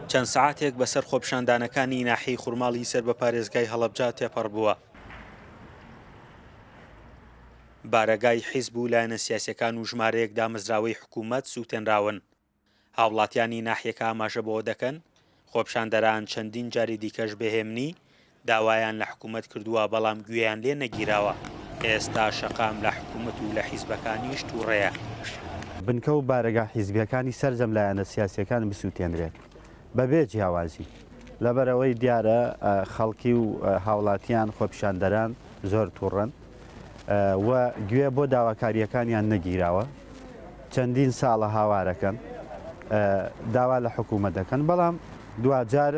چەند سەعاتێک بەسەر خۆپیشاندانەکانی ناحیەی خورماڵی سەر بە پارێزگای هەڵەبجە تێپەڕبووە. بارەگای حیزب و لایەنە سیاسیەکان و ژمارەیەک دامەزراوەی حکوومەت سووتێنراون. هاوڵاتیانی ناحیەکە ئاماژە بەوە دەکەن، خۆپیشاندەران چەندین جاری دیکەش بەهێمنی داوایان لە حکومەت کردووە، بەڵام گوێیان لێ نەگیراوە. ئێستا شەقام لە حکومەت و لە حیزبەکانیش تووڕەیە. بنکە و بارەگا حیزبییەکانی سەرجەم لایەنە سیاسییەکان بسووتێنرێت بەبێ جیاوازی، لەبەرئەوەی دیارە خەڵکی و هاوڵاتییان، خۆپیشاندەران زۆر تووڕەن. و گوێ بۆ داواکارییەکانیان نەگیراوە، چەندین ساڵە هاوارەکەن، داوا لە حکوومەت دەکەن، بەڵام دواجار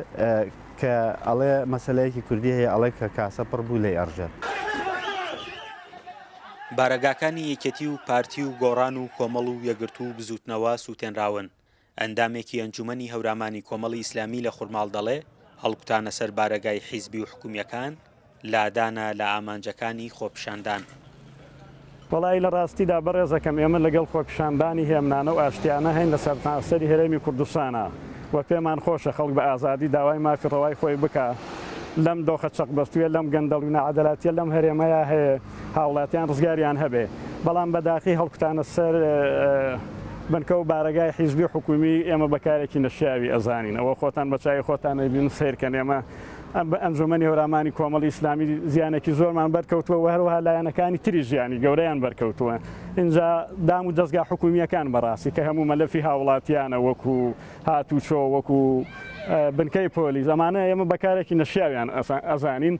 کە ئەڵێ مەسەلەیەکی کوردی هەیە ئەڵێ کە کاسە پڕ بوو لێی ئەڕژێت. بارەگاکانی یەکێتی و پارتی و گۆڕان و کۆمەڵ و یەکگرتوو و بزووتنەوە سووتێنراون، ئەندامێکی ئەنجومەنی هەورامانی کۆمەڵی ئیسلامی لە خورماڵ دەڵێ، هەڵکوتانە سەر بارەگای حیزبی و حکومیەکان لادانە لە ئامانجەکانی خۆپیشاندان. وەڵایی لە ڕاستیدا بەڕێزەکەم ئێمە لەگەڵ خۆپیشاندانی هێمنانە و ئاشتیانە هەین لە سەرتاسەری هەرێمی کوردستانا و پێمان خۆشە خەڵک بە ئازادی داوای مافی ڕەوای خۆی بکا لەم دۆخە چەقبەستوویە لەم گەندەڵی و ناعەدالەتیە لەم هەرێمەیا هەیێ. هاوڵاتیان ڕزگاریان هەبێ، بەڵام بە داخی هەڵکوتانە سەر بنکە و بارەگای حیزبی و حکوومی ئێمە بە کارێکی نەشیاوی ئەزانین، ئەوە خۆتان بە چاوی خۆتان ئەیبینن سەیرکەن ئێمە بە ئەنجوومەنی هەورامانی کۆمەڵی ئیسلامی زیانێکی زۆرمان بەرکەوتووە و هەروەها لایەنەکانی تریش زیانی گەورەیان بەرکەوتووە ئینجا دام و دەزگا حکوومییەکان بەڕاستی کە هەموو مەلەفی هاوڵاتیانە وەکوو هاتوچۆ وەکوو بنکەی پۆلیس ئەمانە ئێمە بە کارێکی نەشیاویان ئەزانین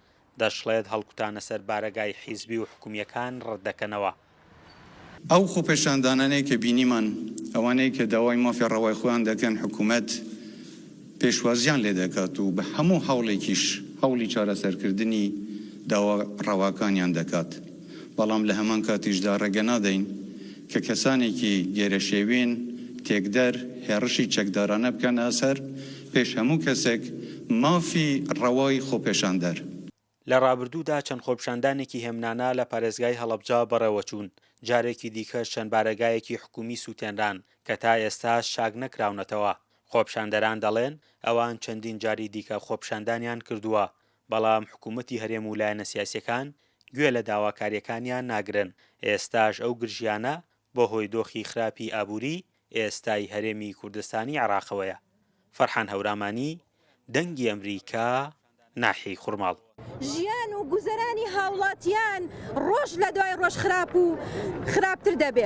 دەشڵێت، هەڵکوتانە سەر بارەگای حیزبی و حکومییەکان ڕەتدەکەنەوە. ئەو خۆپێشاندانانەی کە بینیمان، ئەوانەی کە داوای مافی ڕەوای خۆیان دەکەن حکومەت پێشوازییان لێ دەکات و بە هەموو هەوڵێکیش هەوڵی چارەسەرکردنی داوا ڕەواکانیان دەکات. بەڵام لە هەمان کاتیشدا ڕێگە نادەین کە کەسانێکی گێرەشێوین، تێکدەر، هێڕشی چەکدارانە بکەنە سەر پێش هەموو کەسێک مافی ڕەوای خۆپێشاندەر. لە ڕابردوودا چەند خۆپیشاندانێکی هێمنانە لە پارێزگای هەڵەبجە بەڕێوەچوون، جارێکی دیکەش چەند بارەگایەکی حکوومی سووتێنران کە تا ئێستاش چاک نەکراونەتەوە، خۆپیشاندەران دەڵێن ئەوان چەندین جاری دیکە خۆپیشاندانیان کردووە، بەڵام حکوومەتی هەرێم و لایەنە سیاسییەکان گوێ لە داواکارییەکانیان ناگرن، ئێستاش ئەو گرژییانە بە هۆی دۆخی خراپی ئابووریی ئێستای هەرێمی کوردستانی عێراقەوەیە. فەرحان هەورامانی، دەنگی ئەمریکا، ناحیەی خورماڵ. ژیان و گوزەرانی هاوڵاتیان ڕۆژ لە دوای ڕۆژ خراپ و خراپتر دەبێ.